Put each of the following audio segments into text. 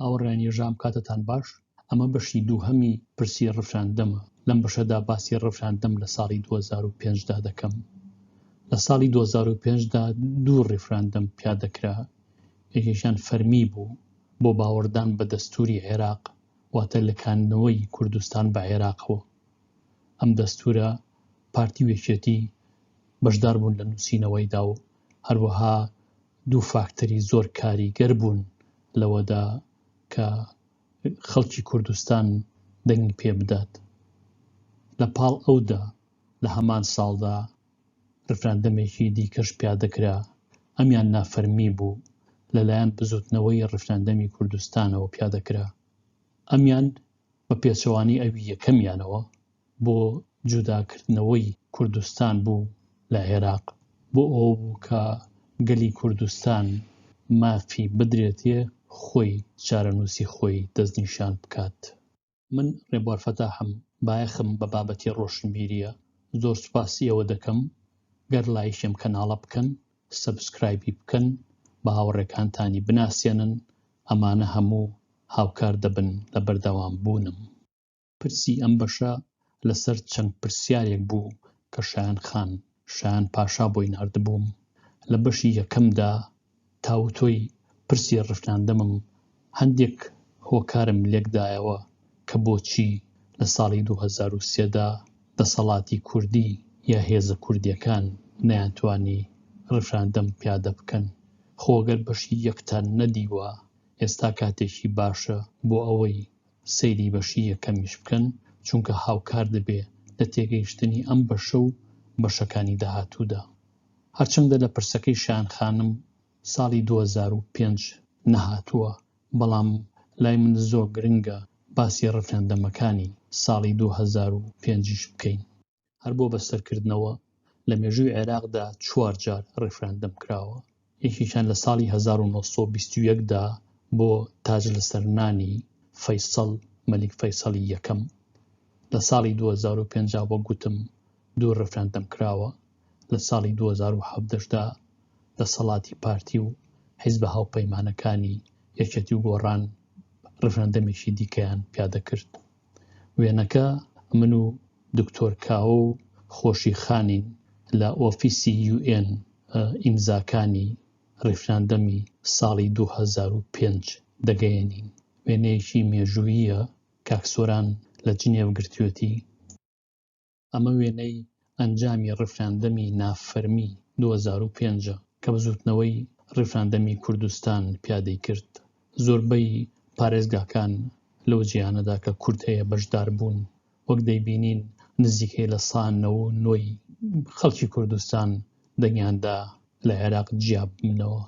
هاوڕیان یەژام کاتتان باش ئەمە بەشی دووهەمی پرسی ڕفراندەمە لەم بەشەدا باسی ڕفراندەم لە ساڵی 2005دا دەکەم لە ساڵی 2005دا دوو ڕفراندەم پیادەکرا یەکێکیان فەرمی بوو بۆ باوەڕدان بە دەستوری عێراق واتە لەکانەوەی کوردستان بە عێراقەوە ئەم دەستورە پارتی وێکێتی بەشدار بوون لە نووسینەوەیدا و هەروەها دوو فاکتەری زۆر کاریگەر بوون لەوەدا کە خەڵکی کوردستان دەنگی پێ بدات لە پاڵ ئەودا لە هەمان ساڵدا ڕفراندەمێکی دیکەش پیادەکرا ئەمیان نافەرمی بوو لەلایەن بزوتنەوەی ڕفراندەمی کوردستانەوە پیادەکرا ئەمیان بە پێچەوانەی ئەوی یەکەمیانەوە بۆ جوداکردنەوەی کوردستان بوو لە عێراق، بۆ ئەوە بوو کە گەلی کوردستان مافی بدرێتێ خۆی چارەنووسی خۆی دەستنیشان بکات. من ڕێبوار فەتاحم، بایەخم بە بابەتی ڕۆشنبیرییە. زۆر سوپاسی ئێوە دەکەم گەر لایکی ئەم کەناڵە بکەن، سەبسکرایبی بکەن، بە هاوڕێکانتانی بناسێنن، ئەمانە هەموو هاوکار دەبن لە بەردەوامبوونم. پرسی ئەم بەشە لەسەر چەند پرسیارێک بوو کە شایان خان شایان پاشا بۆی ناردبووم لە بەشی یەکەمدا تاوتۆی پرسی ڕفناندەمم هەندێک هۆکارم لێکدایەوە کە بۆچی لە ساڵی 2023دا دەسەڵاتی کوردی یا هێزە کوردیەکان نەیانتوانی ڕفراندەم پیادە بکەن خۆگەر بەشی یەکتان نەدیوە ئێستا کاتێکی باشە بۆ ئەوەی سەیری بەشی یەکەمیش بکەن چونکە هاوکار دەبێ لە تێگەیشتنی ئەم بەشە و بەشەکانی داهاتوودا. هەرچەندە لە پرسەکەی شایان خانم ساڵی دوو هەزار و پێنج نەهاتووە بەڵام لای من زۆر گرنگە باسی ڕفراندەمەکانی ساڵی دوو هەزار و پێنج یش بکەین. هەر بۆ بەستەرکردنەوە لە مێژووی عێراقدا چوار جار ڕیفراندەم کراوە یەکێکیان لە ساڵی 1920 دا بۆ تاج لەسەر نانی فەیسەڵ مەلیک فەیسەڵی یەکەم لە ساڵی 2050 وەک گوتم دوو ڕفراندەم کراوە لە ساڵی 2017دا دەسەڵاتی پارتی و حیزبە هاوپەیمانەکانی یەکێتی و گۆڕان ڕفراندەمێکی دیکەیان پیادەکرد وێنەکە، من و دکتۆر کاوە و خۆشی خانین لە ئۆفیسی یوئێن ئیمزاکانی ڕیفراندەمی ساڵی دوو هەزار و پێنج دەگەیەنین. وێنەیەکی مێژووییە کاک سۆران لە جنێڤ گرتوێتی. ئەمە وێنەی ئەنجامی ڕیفراندەمی نافەرمی دوو هەزار و پێنج ە کە بزووتنەوەی ڕیفراندەمی کوردستان پیادەی کرد. زۆربەی پارێزگاکان لەو جێیانەدا کە کورد هەیە بەشدار بوون. وەک دەیبینین نزیکەی لە سا نەوە و نۆی خەڵکی کوردستان دەنگیان دا لە عێراق جیاببنەوە.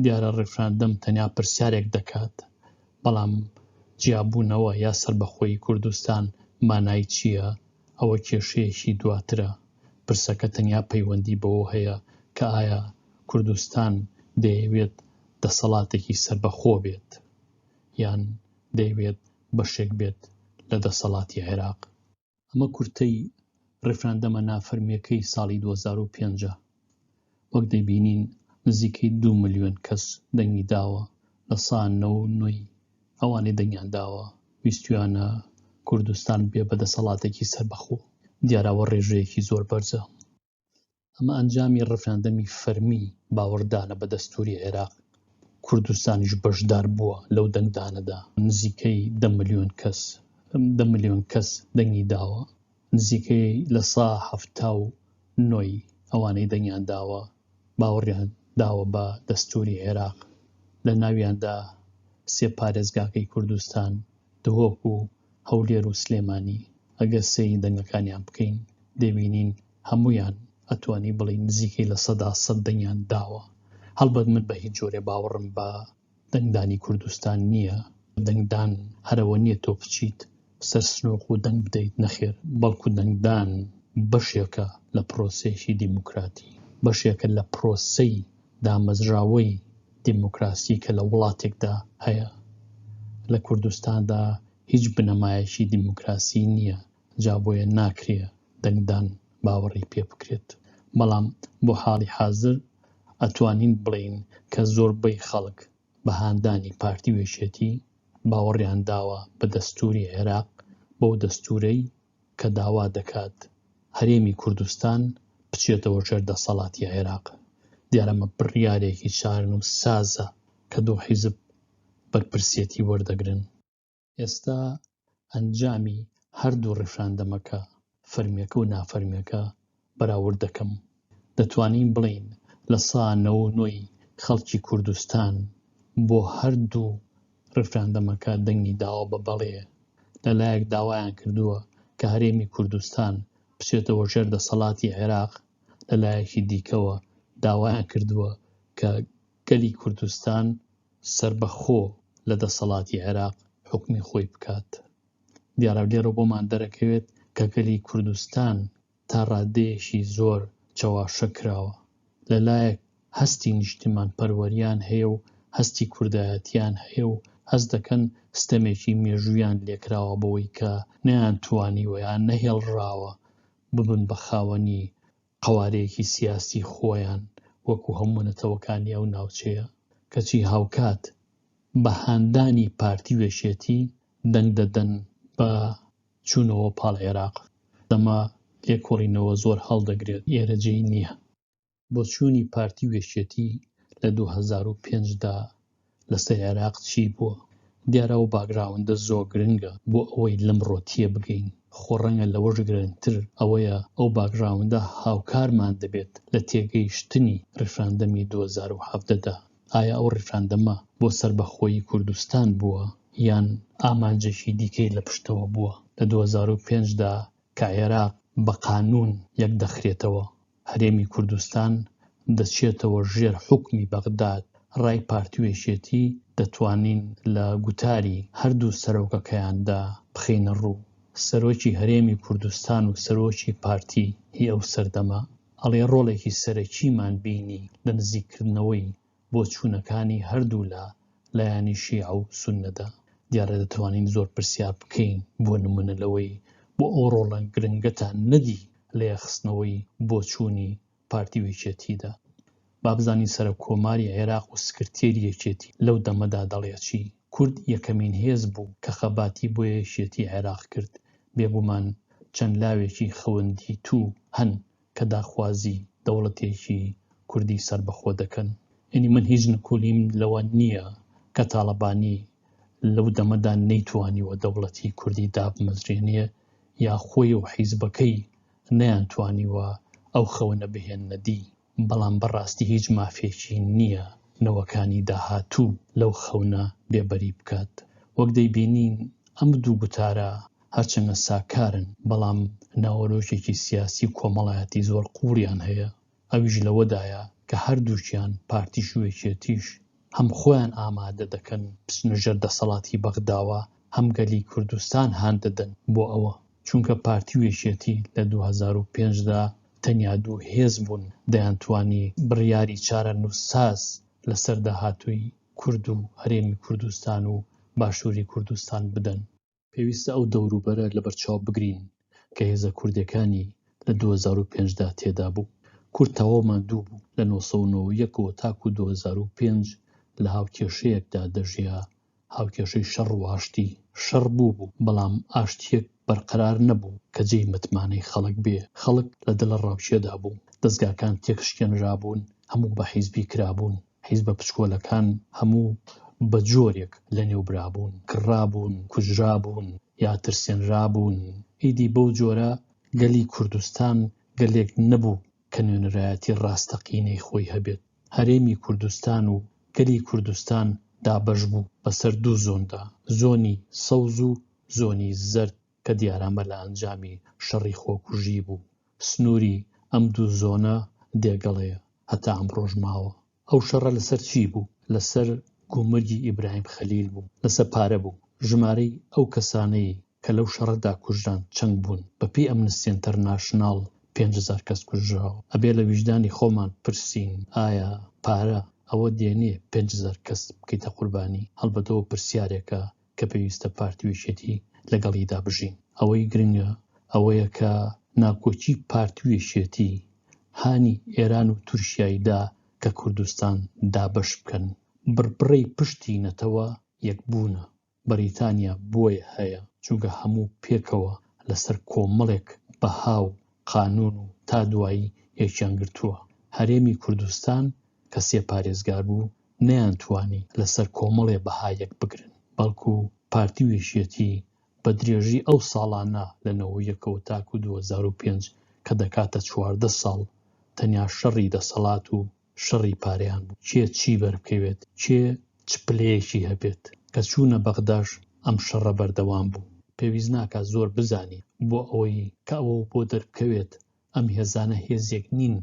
دیارە ڕیفراندەم تەنیا پرسیارێک دەکات، بەڵام جیابوونەوە یا سەربەخۆیی کوردستان مانای چییە، ئەوە کێشەیەکی دواترە. پرسەکە تەنیا پەیوەندی بەوە هەیە کە ئایا کوردستان دەیەوێت دەسەڵاتێکی سەربەخۆ بێت یان دەیەوێت بەشێک بێت لە دەسەڵاتی عێراق. ئەمە کورتەی ڕیفراندەمە نافەرمیەکەی ساڵی 2005 وەک دەبینین نزیکەی دو ملیۆن کەس دەنگی داوە لە سا نە و نۆی ئەوانەی دەنگیان داوە ویستویانە کوردستان بێ بە دەسەڵاتێکی سەربەخۆ دیاراوە ڕێژەیەکی زۆر بەرزە ئەمە ئەنجامی ڕفراندەمی فەرمی باوەڕدانە بە دەستوری عێراق کوردستانیش بەشدار بووە لەو دەنگدانەدا نزیکەی دە میلیۆن کەس دە میلیۆن کەس دەنگی داوە نزیکەی لە سا هەفتا و نۆی ئەوانەی دەنگیان داوە باوەڕیان داوە بە دەستوری عێراق لە ناویاندا سێ پارێزگاکەی کوردستان دهۆک و هەولێر و سلێمانی ئەگەر سەیری دەنگەکانیان بکەین دەبینین هەموویان ئەتوانی بڵێی نزیکەی لە سەدا سەد دەنگیان داوە هەڵبەت من بە هیچ جۆرێ باوەڕم بە دەنگدانی کوردستان نییە دەنگدان هەرەوە نییە تۆ بچیت سەر سنووق و دەنگ بدەیت نەخێر بەڵکو دەنگدان بەشێکە لە پرۆسەیەکی دیموکراتی بەشێکە لە پرۆسەی دامەزراوەی دیموکراسی کە لە وڵاتێکدا هەیە لە کوردستاندا هیچ بنەمایەکی دیموکراسی نییە جا بۆیە ناکرێ دەنگدان باوەڕی پێ بکرێت بەڵام بۆ حاڵی حازر ئەتوانین بڵێین کە زۆربەی خەڵک بە هاندانی پارتی وێشێتی باوەڕیان داوە بە دەستوری عێراق بەو دەستورەی کە داوا دەکات هەرێمی کوردستان بچێتەوە ژێر دەسەڵاتی عێراق، دیارە ئەمە بڕیارێکی چارەنووسسازە کە دوو حیزب بەرپرسیەتی وەردەگرن. ئێستا ئەنجامی هەردوو ڕیفراندەمەکە، فەرمییەکە و نافەرمییەکە بەراورد دەکەم، دەتوانین بڵێین لە سا نەوە و نۆی خەڵکی کوردستان بۆ هەردوو ڕیفراندەمەکە دەنگی داوە بە بەڵێ، لە لایەک داوایان کردووە کە هەرێمی کوردستان بچێتەوە ژێر دەسەڵاتی عێراق، لە لایەکی دیکەوە داوایان کردووە کە گەلی کوردستان سەربەخۆ لە دەسەڵاتی عێراق حوکمی خۆی بکات. دیارە لێرە بۆمان دەرەکەوێت کە گەلی کوردستان تا ڕاددەیەکی زۆر چەواشە کراوە، لە لایەک هەستی نیشتیمانپەروەرییان هەیە و هەستی کوردایەتییان هەیە و هەست دەکەن ستەمێکی مێژووییان لێ کراوە بەوەی کە نەیانتوانیوە یان نەهێڵراوە ببن بە خاوەنی قەوارەیەکی سیاسی خۆیان وەکوو هەموو نەتەوەکانی ئەو ناوچەیە کەچی هاوکات بە هاندانی پارتی و یەکێتی دەنگ دەدەن بە چوونەوە پاڵ عێراق دەما لێکۆڵینەوە زۆر هەڵدەگرێت ئێرە جێی نییە. بۆچوونی پارتی و یەکێتی لە دوو هەزار و پێنج دا لەسەر عێراق چی بووە؟ دیارە ئەو باگراوندە زۆر گرنگە بۆ ئەوەی لەمڕۆ تێبگەین، خۆ ڕەنگە لەوەش گرنگتر ئەوەیە ئەو باگراوندە هاوکارمان دەبێت لە تێگەیشتنی ڕیفراندەمی دوو هەزار و حەڤدە دا. ئایا ئەو ڕیفراندەمە بۆ سەربەخۆیی کوردستان بووە یان ئامانجێکی دیکەی لە پشتەوە بووە؟ لە دوو هەزار و پێنج دا کە عێراق بە قانوون یەک دەخرێتەوە، هەرێمی کوردستان دەچێتەوە ژێر حوکمی بەغداد، ڕای پارتی و یەکێتی دەتوانین لە گوتاری هەردوو سەرۆکەکەیاندا بخەینە ڕوو. سەرۆکی هەرێمی کوردستان و سەرۆکی پارتی ی ئەو سەردەمە، ئەڵێ ڕۆڵێکی سەرەکیمان بینی لە نزیککردنەوەی بۆچوونەکانی هەردوولا، لایەنی شیعە و سوننەدا. دیارە دەتوانین زۆر پرسیار بکەین بۆ نموونە لەوەی بۆ ئەو ڕۆڵە گرنگەتان نەدی لە یەخستنەوەی بۆچوونی پارتی و یەکێتیدا؟ با بزانین سەرۆک کۆماری عێراق و سکرتێری یەکێتی لەو دەمەدا دەڵێ چی؟ کورد یەکەمین هێز بوو کە خەباتی بۆ یەکێتی عێراق کرد، بێگومان چەند لاوێکی خەوندیتوو هەن کە داخوازی دەوڵەتێکی کوردی سەربەخۆ دەکەن. یەنی من هیچ نکولیم لەوە نییە کە تاڵەبانی لەو دەمەدا نەیتوانیوە دەوڵەتی کوردی دابمەزرێنێ یا خۆی و حیزبەکەی نەیانتوانیوە ئەو خەونە بهێننە دی. بەڵام بەڕاستی هیچ مافێکی نییە نەوەکانی داهاتوو لەو خەونە بێبەری بکات. وەک دەیبینین ئەم دوو گوتارە هەرچەندە ساکارن، بەڵام ناوەرۆکێکی سیاسی و کۆمەڵایەتی زۆر قووڵیان هەیە، ئەویش لەوەدایە کە هەردووکیان، پارتیش و یەکێتیش، هەم خۆیان ئامادە دەکەن بچنە ژێر دەسەڵاتی بەغداوە هەم گەلی کوردستان هان دەدەن بۆ ئەوە، چونکە پارتی و یەکێتی لە دوو هەزار و پێنج دا تەنیا دوو هێز بوون دەیانتوانی بڕیاری چارەنووسساز لەسەر داهاتووی کورد و هەرێمی کوردستان و باشووری کوردستان بدەن. پێویستە ئەو دەوروبەرە لەبەرچاو بگرین کە هێزە کوردیەکانی لە دوو هەزار و پێنج دا تێدا بوو. کورد تەواو ماندوو بوو، لە نۆ سەد و نۆ و یەک ەوە تاکوو دوو هەزار و پێنج لە هاوکێشەیەکدا دەژیا، هاوکێشەی شەڕ و ئاشتی. شەڕ بووبوو، بەڵام ئاشتییەک بەرقەرار نەبوو کە جێی متمانەی خەڵک بێ، خەڵک لە دڵەڕاوکێدا بوو، دەزگاکان تێکشکێنرابوون، هەموو بە حیزبی کرابوون. حیزبە پچکۆلەکان هەموو بە جۆرێک لەنێو برابوون، کڕابوون، کوژرابوون یا ترسێنرابوون، ئیدی بەو جۆرە گەلی کوردستان گەلێک نەبوو کە نوێنەرایەتی ڕاستەقینەی خۆی هەبێت، هەرێمی کوردستان و گەلی کوردستان دابەش بوو بەسەر دوو زۆندا، زۆنی سەوز و زۆنی زەرد. کە دیارە ئەمە لە ئەنجامی شەڕی خۆکوژی بوو. سنووری ئەم دوو زۆنە دێگەڵەیە، هەتا ئەمڕۆش ماوە. ئەو شەڕە لەسەر چی بوو؟ لەسەر گومرگی ئیبراهیم خەلیل بوو، لەسەر پارە بوو. ژمارەی ئەو کەسانەی کە لەو شەڕەدا کوژران چەند بوون؟ بەپێی ئەمنستی ئینتەرناشناڵ پێنج هەزار کەس کوژراوە. ئەبێ لە ویژدانی خۆمان پرسین ئایا پارە ئەوە دێنێ پێنج هەزار کەس بکەیتە قوربانی؟ هەڵبەتە ئەوە پرسیارێکە کە پێویستە پارتی و یەکێتی لەگەڵیدا بژین. ئەوەی گرنگە ئەوەیە کە ناکۆکی پارتی و یەکێتی هانی ئێران و تورکیای دا کە کوردستان دابەش بکەن. بڕبڕەی پشتی نەتەوە یەکبوونە. بەریتانیا بۆیە هەیە، چونکە هەموو پێکەوە لەسەر کۆمەڵێک بەها و قانوون و تا دوایی یەکیان گرتووە. هەرێمی کوردستان کە سێ پارێزگار بوو، نەیانتوانی لەسەر کۆمەڵێ بەها یەکبگرن، بەڵکو پارتی و یەکێتی بە درێژی ئەو ساڵانە لە نەوەی یەکەوە تاکو دوو هەزار و پێنج کە دەکاتە چواردە ساڵ تەنیا شەڕی دەسەڵات و شەڕی پارەیان بوو کێ چی بەربکەوێت کێ چ پلەیەکی هەبێت کە چوونە بەغداش ئەم شەڕە بەردەوام بوو پێویست ناکات زۆر بزانین بۆ ئەوەی کە ئەوە بۆ دەربکەوێت ئەم هێزانە هێزێک نین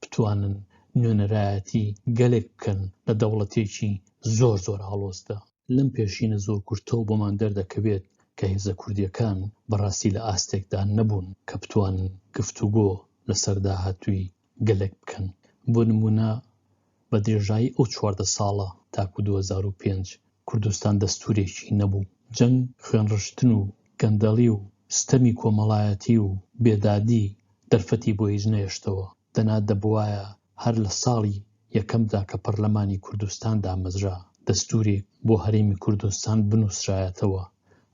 بتوانن نوێنەرایەتی گەلێک بکەن لە دەوڵەتێکی زۆر زۆر ئاڵۆزدا. لەم پێشینە زۆر کورتەوە بۆمان دەردەکەوێت کە هێزە کوردییەکان بەڕاستی لە ئاستێکدا نەبوون کە بتوانن گفتوگۆ لەسەر داهاتووی گەلێک بکەن. بۆ نموونە بە درێژایی ئەو چواردە ساڵە تاکو دوو هەزار و پێنج کوردستان دەستوورێکی نەبوو، جەنگ، خوێنڕشتن و گەندەڵی و ستەمی کۆمەڵایەتی و بێدادی دەرفەتی بۆ هیچ نەهێشتەوە، دەنا دەبوایە هەر لە ساڵی یەکەمدا کە پەرلەمانی کوردستان دامەزرا دەستوورێک بۆ هەرێمی کوردستان بنووسرایەتەوە،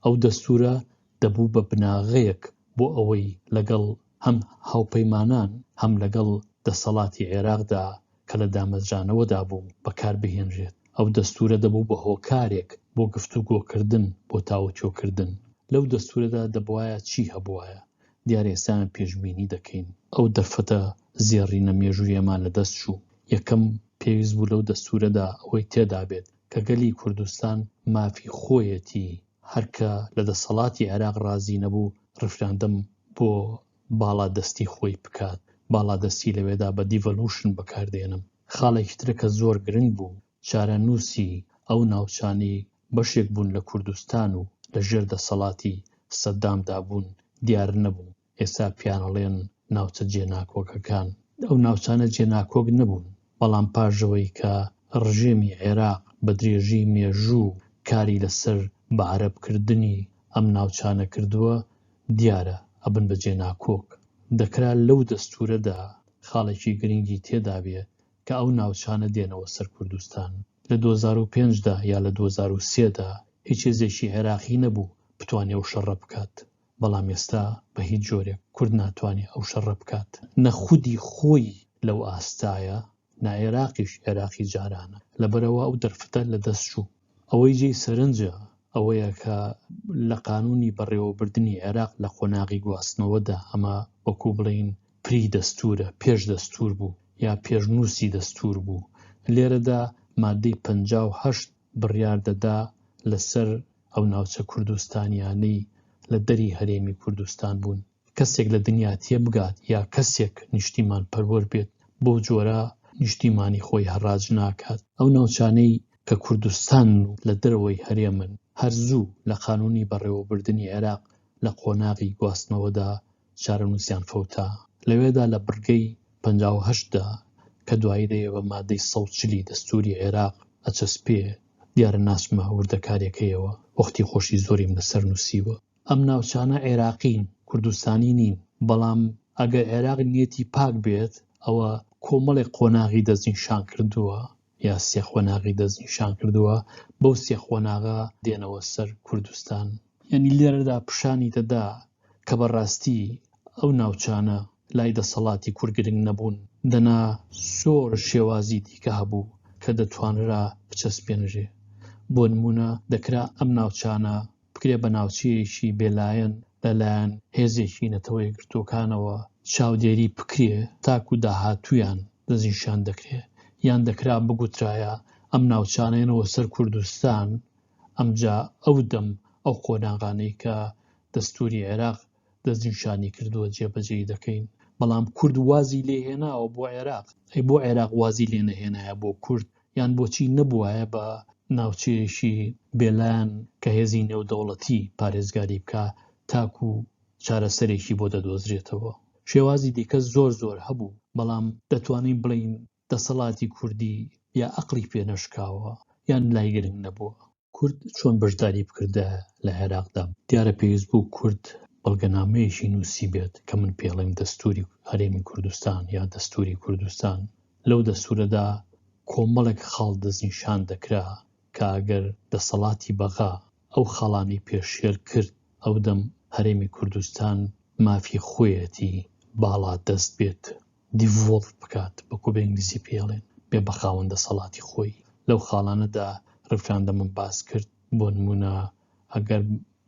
ئەو دەستوورە دەبوو بە بناغەیەک بۆ ئەوەی لەگەڵ هەم هاوپەیمانان هەم لەگەڵ دەسەڵاتی عێراقدا کە لە دامەزرانەوەدا بوو بەکار بهێنرێت. ئەو دەستوورە دەبوو بە هۆکارێک بۆ گفتوگۆکردن بۆ تاوتۆکردن. لەو دەستوورەدا دەبوایە چی هەبوایە؟ دیارە ئێستایان پێشبینی دەکەین. ئەو دەرفەتە زێڕینە مێژوویەمان لە دەست چوو. یەکەم، پێویست بوو لەو دەستوورەدا ئەوەی تێدا بێت کە گەلی کوردستان مافی خۆیەتی هەر کە لە دەسەڵاتی عێراق ڕازی نەبوو ڕیفراندەم بۆ باڵا دەستی خۆی بکات باڵا دەستی لەوێدا بە دیڤەلوشن بەکاردێنم خاڵێکی ترە کە زۆر گرنگ بوو چارەنووسی ئەو ناوچانەی بەشێک بوون لە کوردستان و لە ژێر دەسەڵاتی سەدام دابوون دیار نەبوو. ئێستا پێیانەڵێن ناوچە جێناکۆکەکان، ئەو ناوچانە جێناکۆک نەبوون، بەڵام پاشەوەی کە ڕژێمی عێراق بە درێژەی مێژوو کاری لەسەر بە عەرەب کردنی ئەم ناوچانە کردووە، دیارە ئەبن بە جێناکۆک. دەکرا لەو دەستوورەدا خاڵێکی گرنگی تێدابێ کە ئەو ناوچانە دێنەوە سەر کوردستان. لە دوو هەزار و پێنج دا یا لە دوو هەزار و سێ دا هیچ هێزێکی عێراقی نەبوو بتوانێ ئەو شەڕە بکات. بەڵام ئێستا بە هیچ جۆرێک کورد ناتوانێ ئەو شەڕە بکات، نە خودی خۆی لەو ئاستایە، نە عێراقیش عێراقی جارانە، لەبەرئەوە ئەو دەرفەتە لە دەست چوو. ئەوەی جێی سەرنجە ئەوەیە کە لە قانوونی بەڕێوەبردنی عێراق لە قۆناغی گواستنەوەدا، ئەمە وەکوو بڵێین پری دەستوورە، پێش دەستوور بوو یا پێشنووسی دەستوور بوو، لێرەدا ماددەی پەنجا و هەشت بڕیار دەدا لەسەر ئەو ناوچە کوردستانیانەی لە دەری هەرێمی کوردستان بوون. کەسێک لە دنیا تێبگات یا کەسێک نیشتیمان پەروەر بێت بەو جۆرە نیشتیمانی خۆی هەڕاج ناکات. ئەو ناوچانەی کە کوردستانن و لە دەرەوەی هەرێمن هەر زوو لە قانونی بەڕێوەبردنی عێراق لە قۆناغی گواستنەوەدا چارەنووسیان فەوتا، لەوێدا لە بڕگەی پەنجا و هەشت دا کە دوایی دەیێ بە مادەی سەد و چل ی دەستووری عێراق ئەچەسپێ، دیارە ناچمە وردەکارییەکەیەوە، وەختی خۆشی زۆریم لەسەر نووسیوە. ئەم ناوچانە عێراقین، کوردستانی نین، بەڵام ئەگەر عێراق نیەتی پاک بێت، ئەوە کۆمەڵێک قۆناغی دەستنیشان کردووە یا سێ قۆناغی دەست نیشان کردووە، بەو سێ قۆناغە دێنەوە سەر کوردستان. یانی لێرەدا پشانی دەدا کە بە ڕاستی ئەو ناوچانە لای دەسەڵاتی کورد گرنگ نەبوون، دەنا زۆر شێوازی دیکە هەبوو کە دەتوانرا بچەسپێنرێ. بۆ نموونە دەکرا ئەم ناوچانە بکرێت بە ناوچەیەکی بێلایەن لەلایەن هێزێکی نەتەوە یەکگرتووەکانەوە چاودێری بکرێ تاکو داهاتوویان دەستنیشان دەکرێت یان دەکرا بگوترایە ئەم ناوچانەیەنەوە سەر کوردستان ئەمجا ئەو دەم ئەو قۆناغانەی کە دەستوری عێراق دەستنیشانی کردووە جێبەجێی دەکەین بەڵام کورد وازی لێهێناوە بۆ عێراق ئەی بۆ عێراق وازی لێ نەهێنایە بۆ کورد یان بۆچی نەبووایە بە ناوچەیەکی بێلان کە هێزی نێودەوڵەتی پارێزگاری بکە تاکو چارەسەرێکی بۆ دەدۆزرێتەوە شێوازی دیکە زۆر زۆر هەبوو بەڵام دەتوانین بڵین دەسەڵاتی کوردی یا ئەقڵی پێ نەشکاوە یان لای گرنگ نەبووە. کورد چۆن بەشداری بکردە لە عێراقدا؟ دیارە پێویست بوو کورد بەڵگەنامەیەکی نووسیبێت کە من پێڵێم دەستووری هەرێمی کوردستان یا دەستووری کوردستان، لەو دەستوورەدا کۆمەڵێک خاڵ دەستنیشان دەکرا کە ئەگەر دەسەڵاتی بەغا ئەو خاڵانەی پێشێل کرد ئەو دەم هەرێمی کوردستان مافی خۆیەتی باڵا دەست بێت دیڤۆڵڤ بکات وەکو بە ئینگلیزی پێی ئەڵێن بێ بە خاوەن دەسەڵاتی خۆی لەو خاڵانەدا ڕفراندەمم باس کرد بۆ نمونە ئەگەر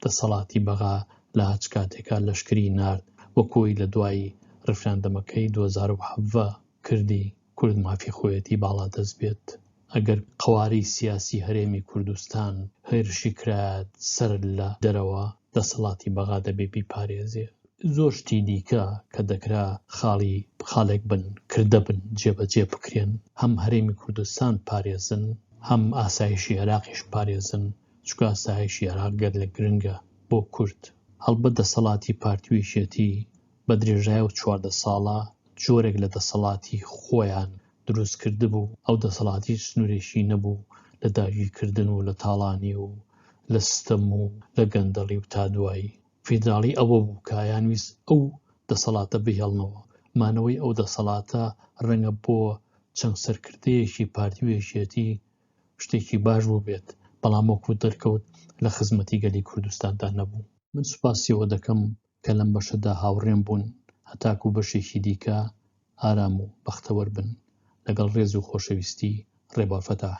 دەسەڵاتی بەغا لە هەچ کاتێکا لەشکری نارد وەکۆی لە دوای ڕفراندەمەکەی دوو هەزار و حەڤدە کردی کورد مافی خۆیەتی باڵا دەست بێت ئەگەر قەوارەی سیاسی هەرێمی کوردستان هێرشی کرایەت سەر لە دەرەوە دەسەڵاتی بەغا دەبێ بیپارێزێ. زۆر شتی دیکە کە دەکرا خاڵی خاڵێک بن، کردە بن، جێبەجێ بکرێن، هەم هەرێمی کوردستان پارێزن، هەم ئاسایشی عێراقیش پارێزن، چونکە ئاسایشی عێراق گەلەک گرنگە بۆ کورد. هەڵبەت دەسەڵاتی پارتی و یەکێتی بە درێژای ئەو چواردە ساڵە جۆرێک لە دەسەڵاتی خۆیان دروست کردبوو، ئەو دەسەڵات هیچ سنوورێکی نەبوو لە داگیرکردن و لە تاڵانی و لە ستەم و لە گەندەڵی و تا دوایی. فیدراڵی ئەوە بوو کە ئەیانویست ئەو دەسەڵاتە بهێڵنەوە، مانەوەی ئەو دەسەڵاتە ڕەنگە بۆ چەند سەرکردەیەکی پارتی و یەکێتی شتێکی باش بووبێت، بەڵام وەکوو دەرکەوت لە خزمەتی گەلی کوردستاندا نەبوو. من سوپاسی ئەوە دەکەم کە لەم بەشەدا هاوڕێم بوون، هەتاکوو بەشێکی دیکە ئارام و بەختەوەر بن. لەگەڵ ڕێز و خۆشەویستی، ڕێبوار فەتاح.